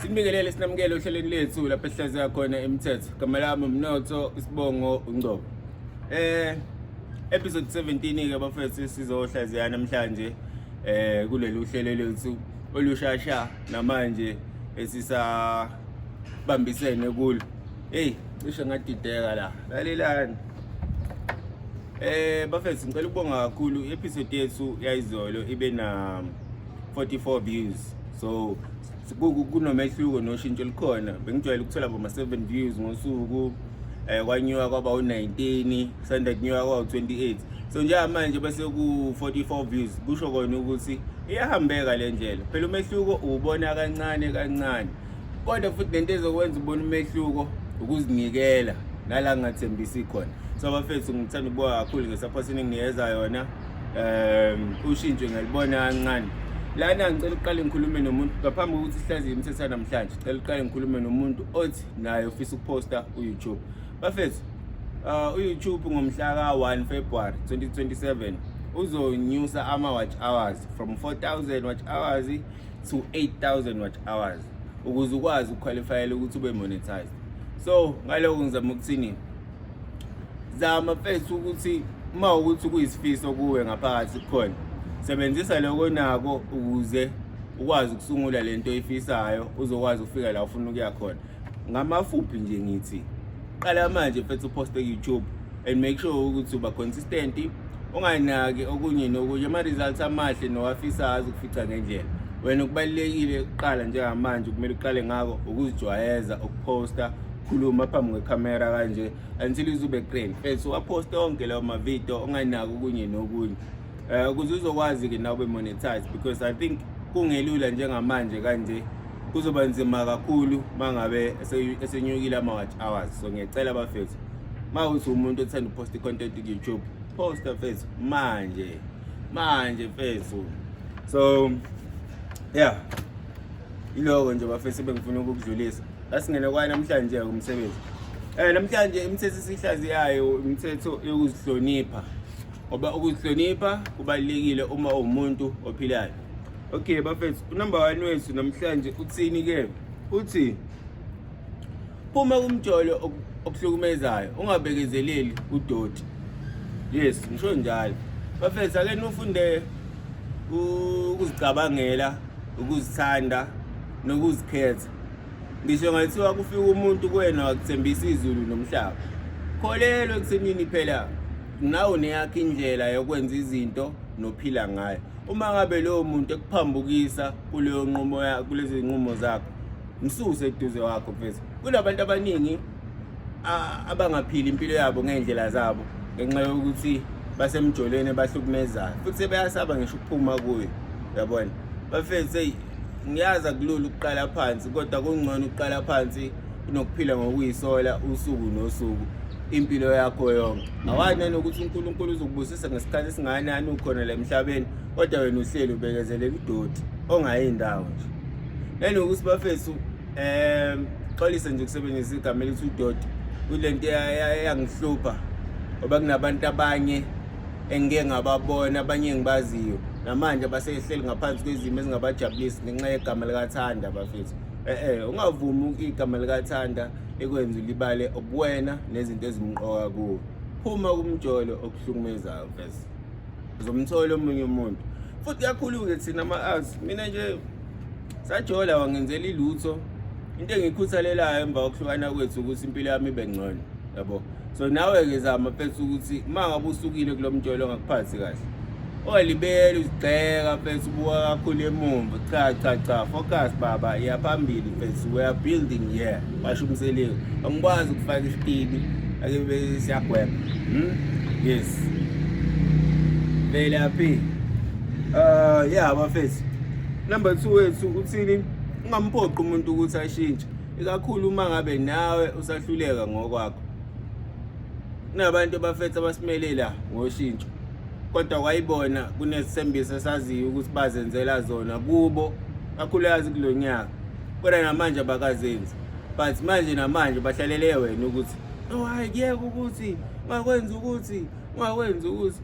Sinibingelele sinamukele ohlelweni lethu lapho esihlaziya khona imithetho. Igama lami Mnotho Isibongo Ungcobo. Eh episode 17 ke bafethu sizohlaziya namhlanje eh kuleli uhlelo lethu olushasha namanje esisa bambisene kulo. Hey, cishe ngadideka la. Lalelani. Eh bafethu ngicela ukubonga kakhulu episode yethu yayizolo ibe na 44 views. So kunomehluko noshintsho likhona. Bengijwayele ukuthola bo 7 views ngosuku. Eh kwanyuka kwaba u19, sanda kunyuka kwa 28. So njengamanje bese ku 44 views kusho kona ukuthi iyahambeka le ndlela. Phela umehluko ubona kancane kancane. kodwa futhi nento ezokwenza ubona umehluko ukuzinikela nala ngingathembisi khona so bafethu ngithanda ukubuka kakhulu ngesaphothi eninginikeza yona um ushintsho ngalibona kancane lana ngicela uqale ngikhulume nomuntu ngaphambi kokuthi sihlaziye imithetho namhlanje cela uqale ngikhulume nomuntu othi naye ufisa ukuposta uyoutube bafethu uh, uyoutube ngomhla ka-1 february 2027 uzonyusa ama-watch hours from 4000 watch hours to 8000 watt hours ukuze ukwazi ukuqualifyela ukuthi ube monetized so ngaloko ngizama ukuthini zama mfethu ukuthi uma ukuthi kuyisifiso kuwe ngaphakathi kukhona sebenzisa lokho nako ukuze ukwazi ukusungula lento oyifisayo uzokwazi ukufika la ufuna ukuya khona ngamafuphi nje ngithi qala manje mfethu uposte ku-youtube and make sure ukuthi uba consistent unganaki okunye nokunye ama-results amahle nowafisayo azokufica ngendlela wena kubalulekile kuqala njengamanje kumele uqale ngako ukuzijwayeza ukuposta khuluma phambi kwekhamera kanje until izube grand fethu waposta onke lawo mavidiyo unganaki okunye nokunye Eh ukuze uzokwazi ke nawe monetize because I think kungelula njengamanje kanje kuzoba nzima kakhulu mangabe esenyukile ama watch hours so ngiyacela bafethu ma uthi umuntu othanda upost content ku YouTube posta fethu manje manje fethu so yeah iloko nje bafethu bengifuna ukukudlulisa asingene kwa namhlanje umsebenzi eh namhlanje imithetho sihlaziyayo imithetho yokuzihlonipha ngoba ukuzihlonipha kubalulekile uma uwumuntu ophilayo okay bafethu unumber one wethu namhlanje uthini ke uthi phuma kumjolo okuhlukumezayo ungabekezeleli udoti yes ngisho njalo bafethu ake nifunde ukuzicabangela ukuzithanda nokuzikhetha ngisho ngathiwa kufika umuntu kuwena wakuthembisa izulu nomhlaba kholelwa ekuthenini phela nawe uneyakho indlela yokwenza izinto nophila ngayo uma ngabe lowo muntu ekuphambukisa kuleyo nqumo kulezi nqumo zakho msuse eduze wakho mfethu kunabantu abaningi abangaphili impilo yabo ngey'ndlela zabo ngenxa yokuthi basemjolweni bahlukumezayo futhi sebeyasaba ngisho ukuphuma kuyo yabona bafethu eyi ngiyazi akulula ukuqala phansi kodwa kungcono ukuqala phansi kunokuphila ngokuyisola usuku nosuku impilo yakho yonke awani nanokuthi unkulunkulu uzokubusisa ngesikhathi esingakanani ukhona la emhlabeni kodwa wena uhleli ubekezelela udoti ongayi ndawo nje nanokuthi bafethu um xolise nje ukusebenzisa igama elithi udoti kule nto eyangihlupha ngoba kunabantu abanye engike ngababona abanye engibaziyo namanje abasehleli ngaphansi kwezimo ezingabajabulisi ngenxa yegama likathanda bafethu e-e ungavumi igama likathanda ekwenza ulibale obuwena nezinto ezimqoka kuwo phuma kumjolo okuhlukumezayo vese uzomthola omunye umuntu futhi kakhulu-ke thina ama-arts mina nje sajola wangenzela ilutho into engiyikhuthalelayo emva kokuhlukana kwethu ukuthi impilo yami ibe ngcono yabo so nawe-ke zama fethu ukuthi uma ngabe usukile kulo mjolo ongakuphathi kahle olibele uzigxeka fethu ubuka kakhulu emumva cha cha cha focus baba iyaphambili fethu we are building here basho umseliwe angikwazi ukufaka isitini ake siyagweba hmm? yes vele aphi uh yeah bafethu number 2 wethu uthini ungamphoqi umuntu ukuthi ashintshe ikakhulu uma ngabe nawe usahluleka ngokwakho kunabantu abafethu abasimelela ngoshintsho kodwa kwayibona kunezithembiso esaziyo ukuthi bazenzela zona kubo kakhulukazi kulo nyaka kodwa namanje abakazenzi but manje namanje bahlalele wena ukuthi oh hayi kuyeka ukuthi ungakwenza ukuthi ungakwenza ukuthi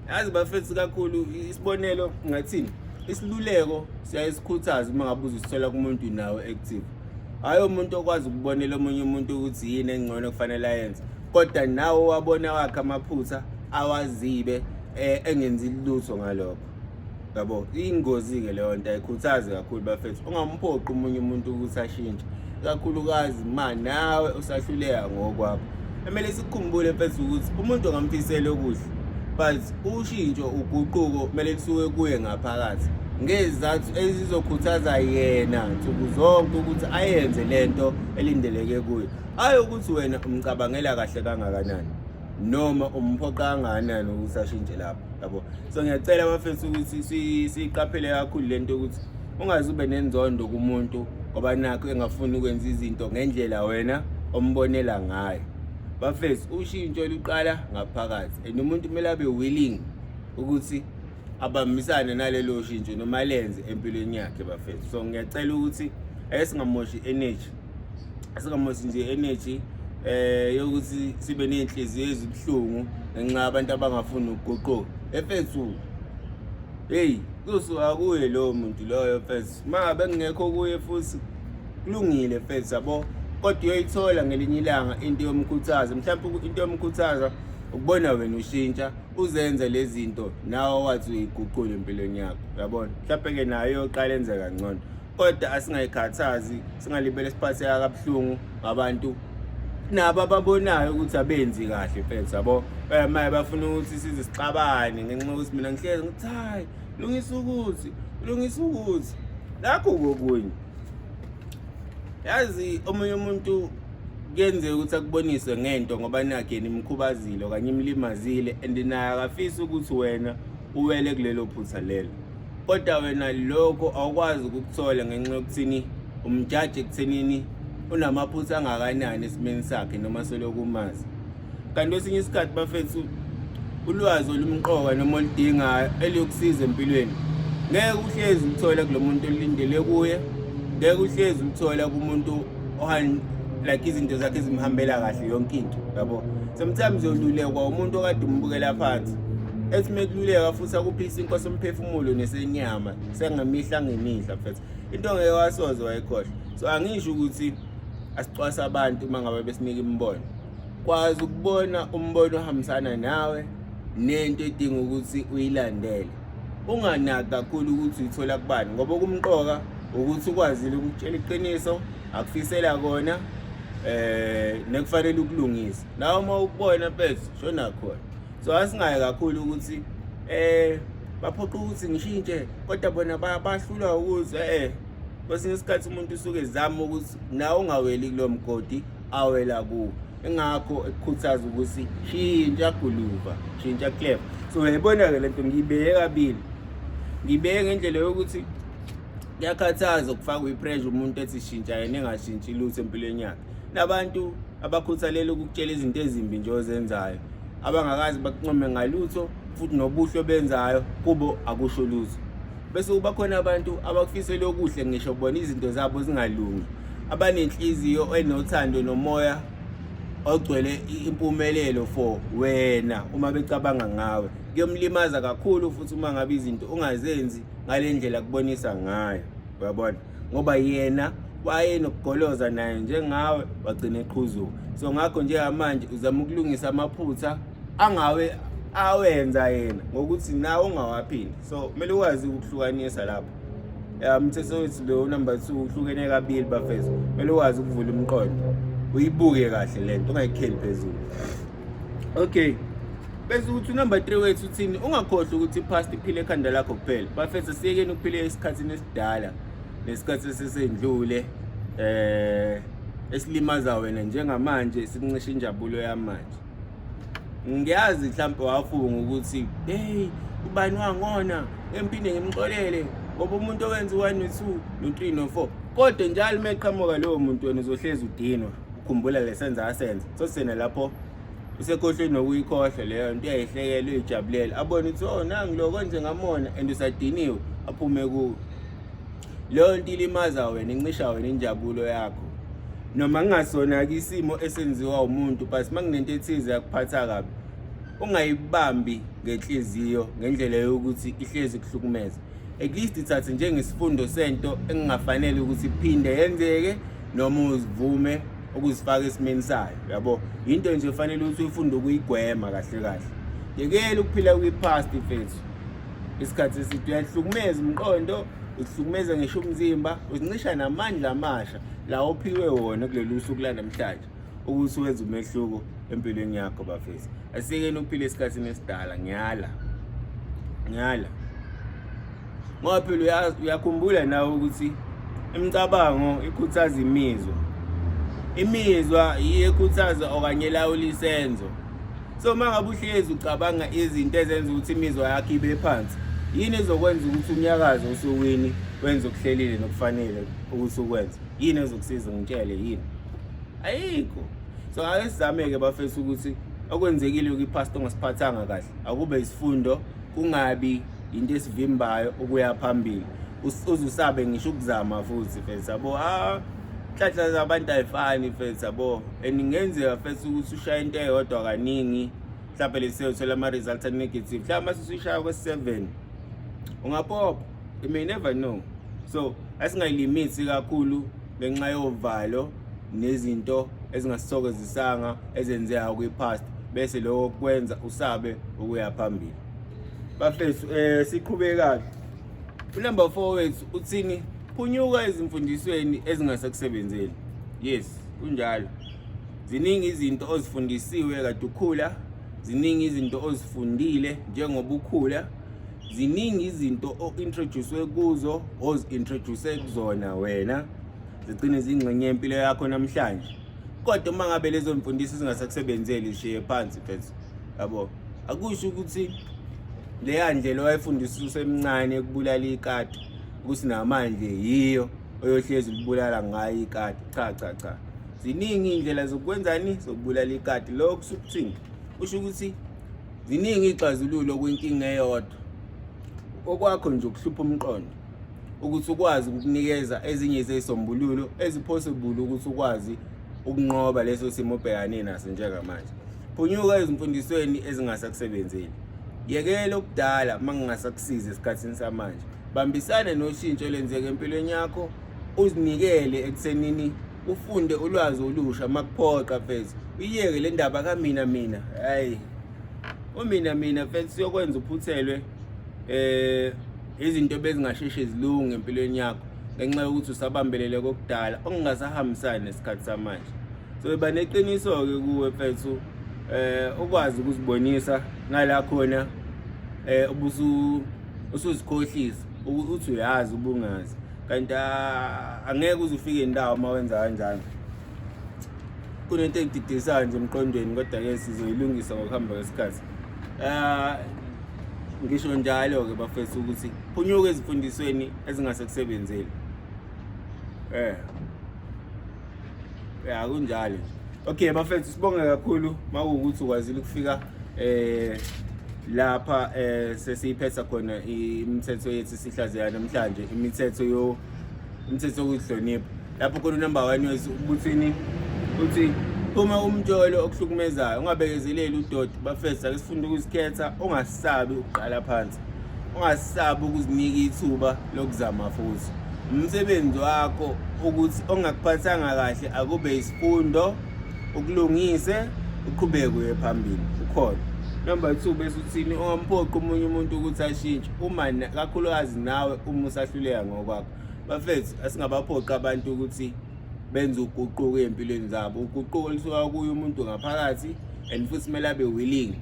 yazi bafethu kakhulu isibonelo ngathini isiluleko siyaye sikhuthaze uma ngabe uzisithola kumuntu nawe active hhayi umuntu okwazi ukubonela omunye umuntu ukuthi yini engcono kufanele ayenze kodwa nawe wabona wakhe amaphutha awazibe um engenzi lutho ngalokho yabo ingozi-ke leyo nto ayikhuthazi kakhulu bafethu ungamphoqi omunye umuntu ukuthi ashintshe ikakhulukazi ma nawe usahluleka ngokwakho kumele sikukhumbule mfethu ukuthi umuntu ongamfisela okuhle but ushintsho uguquko kumele kusuke kuye ngaphakathi ngezizathu ezizokhuthaza yena nsuku zonke ukuthi ayenze le nto elindeleke kuyo ayi ukuthi wena umcabangela kahle kangakanani noma umphoqa angakanani ukuthi ashintshe lapho yabo so ngiyacela abafethu ukuthi siyiqaphele kakhulu le nto ukuthi ungaze ube nenzondo kumuntu ngoba nakho engafuni ukwenza izinto ngendlela wena ombonela ngayo bafethu ushintsho luqala ngaphakathi and umuntu kumele abe willing ukuthi abambisane nalelo shintsho noma lenze empilweni yakhe bafethu so ngiyacela ukuthi ayesingamoshi energy singamosi nje energy eh yokuthi sibe nezinhliziyo ezibuhlungu ngenxa abantu abangafuni ukuguquka efethu hey kusuka kuye lowo muntu loyo fethu ma bengekho kuye futhi kulungile fethu yabo kodwa uyoyithola ngelinye ilanga into yomkhuthaza mhlawumbe into yomkhuthaza ukubona wena ushintsha uzenze lezi zinto nawe wathi uyiguqule empilweni yakho yabona mhlawumbe-ke nayo yoqala enze kangcono kodwa asingayikhathazi singalibele siphatheka kabuhlungu ngabantu nabo ababonayo ukuthi abenzi kahle mfethu yabo maye bafuna ukuthi size sixabane ngenxa yokuthi mina ngihlezi ngithi hayi lungisa ukuthi lungisa ukuthi nakho kokunye yazi omunye umuntu kuyenzeka ukuthi akubonise ngento ngoba nakhe nimkhubazile okanye imlimazile and naye akafisi ukuthi wena uwele kulelo phutha lelo kodwa wena lokho awukwazi ukukuthola ngenxa yokuthini umjaji ekuthenini unamaphutha angakanani esimeni sakhe noma seloku umazi kanti kwesinye isikhathi bafethu ulwazi olumqoka noma oludingayo eliyokusiza empilweni ngeke uhlezi uthole kulo muntu olindele kuye ngeke uhlezi uthole kumuntu like izinto zakhe zimhambela kahle yonke into yabo sometimes yolulekwa umuntu okade umbukela phansi ethi mekululeka futhi akuphisa inkosi umphefumulo nesenyama sengemihla ngemihla mfethu into ngeke wasoze wayikhohlwa so angisho ukuthi asicwasa abantu uma ngabe besinika imibono kwazi ukubona umbono ohambisana nawe nento edinga ukuthi uyilandele unganaki kakhulu ukuthi uyithola kubani ngoba okumqoka ukuthi ukwazile ukutshela iqiniso akufisela kona eh nekufanele ukulungisa nawe uma ukubona phezu shona khona so asingaye kakhulu ukuthi eh baphoqa ukuthi ngishintshe kodwa bona bahlulwa ukuzwa eh kwesinye isikhathi umuntu usuke ezama ukuthi nawe ungaweli kulo mgodi awela kuwo engakho ekukhuthaza ukuthi shintsha guluva shintsha clef so yayibona-ke le nto ngiyibeke kabili ngibeke ngendlela yokuthi kuyakhathaza ukufakwa i-pressure umuntu ethi shintsha yena engashintshi lutho empilweni yakhe nabantu abakhuthalele ukukutshela izinto ezimbi nje ozenzayo abangakazi bakuncome ngalutho futhi nobuhle obenzayo kubo akusho lutho bese kuba khona abantu abakufisela okuhle ngisho bona izinto zabo zingalungi abanenhliziyo enothando nomoya ogcwele impumelelo for wena uma becabanga ngawe kuyomlimaza kakhulu futhi uma ngabe izinto ungazenzi ngale ndlela kubonisa ngayo uyabona ngoba yena wayenokugoloza naye njengawe wagcina eqhuzuka so ngakho njengamanje uzama ukulungisa amaphutha angawe awenza yena ngokuthi nawe ungawaphindi so kumele ukwazi ukuhlukanisa lapho ya mthetho wethu lo number 2 uhlukene kabili bafethu kumele ukwazi ukuvula umqondo uyibuke kahle lento ungayikheli phezulu okay bese ukuthi unumber 3 wethu uthini ungakhohlwa ukuthi past iphile ekhanda lakho kuphela bafethu siyekeni ukuphila esikhathini esidala nesikhathi sesendlule eh esilimaza wena njengamanje sikuncisha injabulo yamanje ngiyazi mhlawumbe wafunga ukuthi hey ubani wangona empinde ngimxolele ngoba umuntu owenza u-1 no-2 no-3 no-4 kodwa njalo uma eqhamuka lowo muntu wena uzohlezi udinwa khumbula lesenza asenza so sena lapho usekhohlwe nokuyikhohlwa leyo nto uyayihlekela uyijabulele abone ukuthi o oh, nangi lo konje ngamona and usadiniwe aphume kuwo leyo nto ilimaza wena incisha wena injabulo yakho noma kungasona-ke isimo esenziwa umuntu but uma kunento ethize yakuphatha kabi ungayibambi ngenhliziyo ngendlela yokuthi ihlezi kuhlukumeza at least ithathe njengesifundo sento engingafanele ukuthi iphinde yenzeke noma uzivume ukuzifaka esimeni sayo yabo into nje fanele ukuthi uyifunde ukuyigwema kahle kahle yekela ukuphila kwi-past mfethu isikhathi eside uyahlukumeza umqondo usihlukumeza ngisho umzimba uzincisha namandla amasha lawo ophiwe wona kuleli usuku lanamhlanje ukuthi wenza umehluko empilweni yakho bafethu asikeni uphile esikhathini esidala ngiyala ngiyala ngoba phela uyakhumbula nawe ukuthi imicabango ikhuthaza imizwa imizwa yiyo ekhuthaza okanye elawula isenzo so uma ngabe uhlezi ucabanga izinto ezenza ukuthi imizwa yakho ibe phansi yini ezokwenza ukuthi unyakaze osukwini wenze okuhlelile nokufanele ukuthi ukwenze yini ezokusiza ngitshele yini ayikho so ake sizame-ke bafethu ukuthi okwenzekile kwiphasita ongasiphathanga kahle akube isifundo kungabi yinto esivimbayo ukuya phambili uzusabe ngisho ukuzama futhi fethu yabo ah inhlanhla zabantu ayifani fethu yabo and ingenzeka fethu ukuthi ushaye into eyodwa kaningi mhlawumbe lesiyothola ama-results anegative mhlawumbe uma sesuyishaya kwe-seven ungapopha you may never know so asingayilimithi kakhulu ngenxa yovalo nezinto ezingasithokozisanga ezenzeka kwi-past bese lokho kwenza usabe ukuya phambili bafethu um siqhube kahle unumber four wethu uthini phunyuka ezimfundisweni ezingasekusebenzeli yes kunjalo ziningi izinto ozifundisiwe kade ukhula ziningi izinto ozifundile njengoba ukhula ziningi izinto o-introducwe kuzo ozi-introduce kuzona wena zigcine zingxenye yempilo yakho namhlanje kodwa uma ngabe lezo mfundiso zingasakusebenzeli shiye phansi mfethu yabo akusho ukuthi leya ndlela owayefundisa usemncane ekubulala ikati ukuthi namanje yiyo oyohlezi libulala ngayo ikati cha cha cha ziningi iy'ndlela zokwenzani zokubulala ikati lokho kusho ukuthini kusho ukuthi Ziningi iy'xazululo kwinkinga eyodwa. Okwakho nje ukuhlupha umqondo ukuthi ukwazi ukukunikeza ezinye zezisombululo eziphosibulu ukuthi ukwazi ukunqoba leso simo obhekane naso njengamanje. Phunyuka ezimfundisweni ezingasakusebenzeli. Yekela okudala uma kungasakusizi esikhathini samanje. Bambisane noshintsho olwenzeka empilweni yakho uzinikele ekuthenini ufunde ulwazi olusha makuphoqa mfethu uyiyeke le ndaba kamina mina hayi umina mina mfethu siyokwenza uphuthelwe eh izinto bezingasheshe zilunge empilweni yakho ngenxa yokuthi usabambelele kokudala okungasahambisani nesikhathi samanje so iba neqiniso-ke kuwe mfethu eh ukwazi ukuzibonisa nala khona eh ubusu usuzikhohlisa ukuthi uyazi ubungazi kanti ah, angeke uze ufike indawo uma wenza kanjani kunento engididisayo nje emqondweni kodwa-ke sizoyilungisa ngokuhamba kwesikhathi um ngisho njalo-ke bafethu ukuthi phunyuke ezifundisweni ezingase kusebenzeli um ya kunjalo okay bafethu sibonge kakhulu makuwukuthi ukwazile ukufika eh lapha eh sesiyiphetha khona imithetho yethu sihlazeya namhlanje imithetho yo imithetho yokuhlonipha lapho khona number 1 yothi ubuthini uthi uma umjolo okuhlukumezayo ungabekezeleli udoti bafethu ake sifunde ukuzikhetha ungasabi ukuqala phansi ungasabi ukuzinika ithuba lokuzama futhi umsebenzi wakho ukuthi ongakuphathanga kahle akube isifundo ukulungise uqhubeke uye phambili ukhona number two bese uthini ungamphoqi omunye umuntu ukuthi ashintshe uma kakhulukazi nawe uma usahluleka ngokwakho bafethu asingabaphoqi abantu ukuthi benze uguquko ey'mpilweni zabo uguquko olusuka kuye umuntu ngaphakathi and futhi kumele abe willing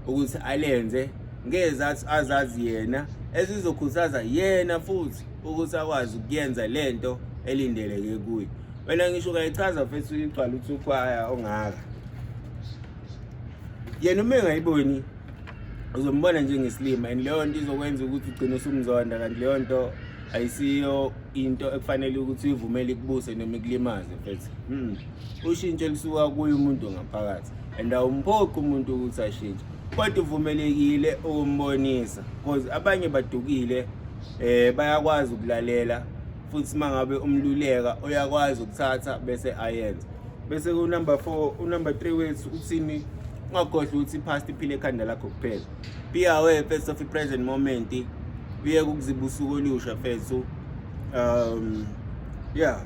ukuthi alenze ngezathi azazi yena ezizokhuthaza yena futhi ukuthi akwazi ukuyenza lento elindeleke kuye wena ngisho ukayichaza mfethu igcwala uthi ukhwaya ongaka yena uma engayiboni uzombona njengesilima and leyo nto izokwenza ukuthi ugcine usumzonda kanti leyo nto ayisiyo into ekufanele ukuthi uyivumele ikubuse noma ikulimaze mfethu hmm. ushintsho lisuka kuye umuntu ngaphakathi and awumphoqi umuntu ukuthi ashintshe kodwa uvumelekile ukumbonisa because abanye badukile eh bayakwazi ukulalela futhi mangabe umluleka uyakwazi ukuthatha bese ayenza bese ku number 4 u number 3 wethu uthini ungakhohlwa ukuthi past iphile ekhanda lakho kuphela be aware first of the present moment uye kukuzibusuku olusha fethu um yeah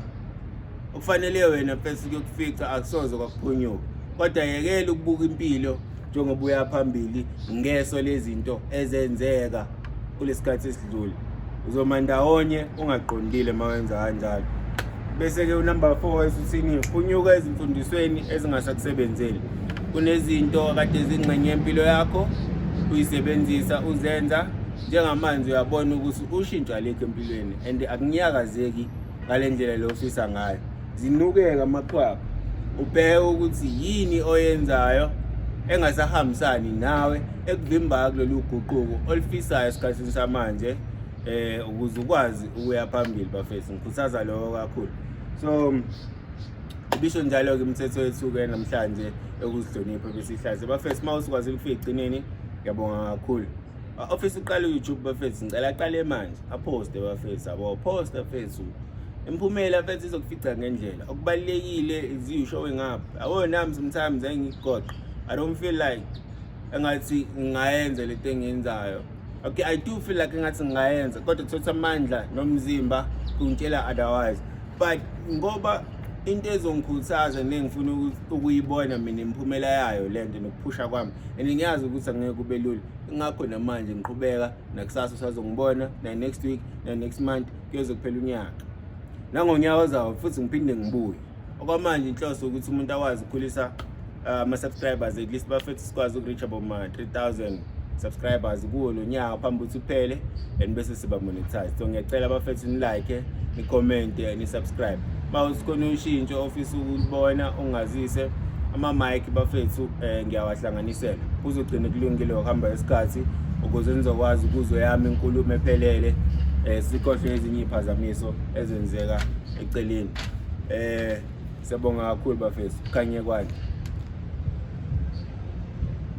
okufanele wena mfethu kuyokufica akusoze kwakuphunyuka kodwa yekela ukubuka impilo njengoba uya phambili ngeso lezinto ezenzeka kulesikhathi esidlule uzoma ndawonye ungaqondile mawenza kanjalo bese ke unumber 4 esuthini phunyuka ezimfundisweni ezingasakusebenzeli kunezinto kade zingxenye impilo yakho uyisebenzisa uzenza njengamanje uyabona ukuthi ushintsho alikho empilweni and akunyakazeki ngale ndlela le ofisa ngayo zinukeka amaqhwaba ubheke ukuthi yini oyenzayo engasahambisani nawe ekuvimbayo kulolu guquko olufisayo esikhathini samanje eh ukuze ukwazi ukuya phambili bafethu ngikhuthaza lokho kakhulu so bisho njalo-ke imithetho yethu-ke namhlanje yokuzihlonipha besihlaze bafethu uma usikwazile ukufika ekugcineni ngiyabonga kakhulu ofisa uqala uyoutube bafethu ngicela aqale manje aphoste bafethu abo phosta fethu imphumela fethu izokufica ngendlela okubalulekile iziyushowe ngapha awona nami sometimes engigoqa i don't feel like engathi ngingayenza le nto engiyenzayo okay i do feel like engathi ngingayenza kodwa kuthatha amandla nomzimba kungitshela otherwise but ngoba into ezongikhuthaza nengifuna ukuyibona mina imiphumela yayo le nto nokuphusha kwami and ngiyazi ukuthi angeke kube lula ingakho namanje ngiqhubeka nakusasa usazongibona na-next week na-next month kuyoze kuphela unyaka nangonyaka ozawo futhi ngiphinde ngibuye okwamanje inhloso ukuthi umuntu akwazi ukukhulisa ah, ama-subscribers at least bafethu sikwazi uku-reach aboma 3000 subscribers kuwo lo nyaka phambi ukuthi uphele and bese siba monetize so ngiyacela bafethu nilike nicommente nisubscribe uma usikhona ushintsho ofisa ukubona ungazise ama-mike bafethu um eh, ngiyawahlanganisela kuzogcina kulungile ukuhamba isikhathi ukuze nizokwazi ukuzwe yami inkulumo ephelele um sikhohlwe ezinye iy'phazamiso ezenzeka eceleni um Siyabonga kakhulu bafethu. Kanye kwani.